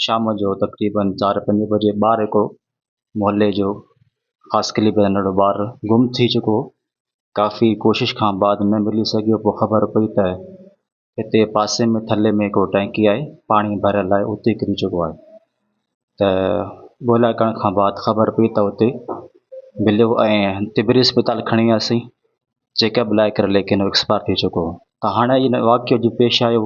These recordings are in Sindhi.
شام جو تقريبن چار پنج بجي ٻار هڪڙو محلي جو خاص قلي ۾ رهندڙ ٻار گم ٿي چڪو هو ڪافي ڪوشش کان بعد نه ملي سگهيو پوء خبر پئي ته هتي پاسي ۾ ٿلهي ۾ هڪڙو ٽينڪي آهي پاڻي ڀريل آهي اتي ڪري چڪو آهي ته ڳوليا ڪرڻ کان بعد خبر پئي ته اتي مليو ۽ تبري اسپتال کڻي وياسين چيڪ اپ لاء ڪري ليڪن ايڪسپائر ٿي چڪو هو ته هاڻي هن واقعي جو پيش آيو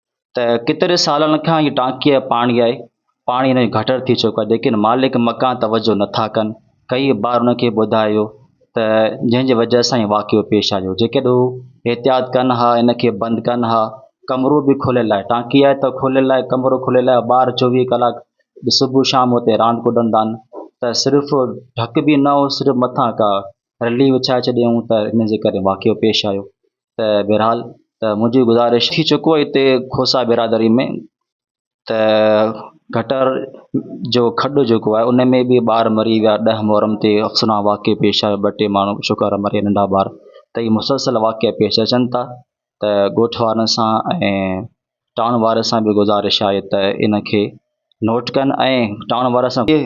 ته ڪيتري سالن کان هي ٽانڪيء جو پاڻي آهي، پاڻي هن جو گهٽر ٿي چڪو آهي، ليڪن مالڪ مڪان توجهه نه ٿا ڪن. ڪيئي بار هن کي ٻڌايو ته جنهن جي وجهه سان هي واقعو پيش آيو. جيڪڏهن هو احتياط ڪن ها، هن کي بند ڪن ها، ڪمرو به کليل آهي، ٽانڪي آهي ته کليل آهي، ڪمرو کليل آهي، ٻار چوويهه ڪلاڪ صبح شام اتي راند ڪڏندا آهن ته صرف ڍڪ به نه هو، صرف مٿان ڪا رلي وڇائي ڇڏيائون ته ان جي ڪري واقعو پيش آيو. ته بهرحال ته منهنجي گذارش ٿي چڪو آهي هتي کوسا برادري ۾ ته گٽر جو کڏ جيڪو آهي ان ۾ به ٻار مري ويا ڏهه محرم تي افسونا واقعي پيش آيو ٻه ٽي ماڻهو شڪار مري ويا ننڍا ٻار ته هي مسلسل واقعا پيش اچن ٿا ته ڳوٺ وارن سان ۽ ٽائون وارن سان به گذارش آهي ته ان کي نوٽ ڪن ۽ ٽائون وارن سان به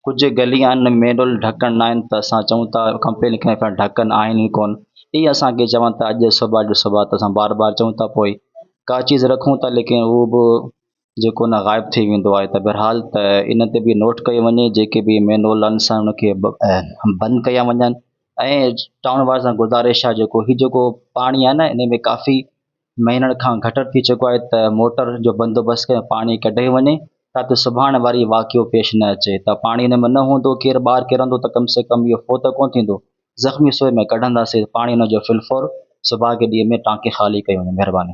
ڪجهه گليان مينول ڍڪڻ نه آهن ته اسان چئون ٿا ڪمپلين ڪيون پيا ڍڪن آهن ئي ڪون اي اسان کي چون ٿا اڄ صبح اڄ صبح ته اسان بار بار چئون ٿا پوء ڪا چيز رکون ٿا ليڪن اهو به جيڪو نه غائب ٿي ويندو آهي ته بهرحال ته ان تي به نوٽ ڪيو وڃي جيڪي به مينول آهن سان ان کي بند ڪيا وڃن ۽ ٽائون وارن سان گذارش آهي جيڪو هي جيڪو پاڻي آهي نه ان ۾ ڪافي مهينن کان گهٽ ٿي چڪو آهي ته موٽر جو بندوبست ڪري پاڻي ڪڍيو وڃي تاته سڀاڻ واري واقعو پيش نه اچي ته پاڻي ان ۾ نه هوندو ڪير ٻار ڪرندو ته ڪم سي ڪم اهو فوت ڪونه ٿيندو زخمي سوئي ۾ ڪڍنداسي پاڻي ان جو فلفور سڀاڳي ڏينهن ۾ ٽانڪي خالي ڪيو وڃي مهرباني.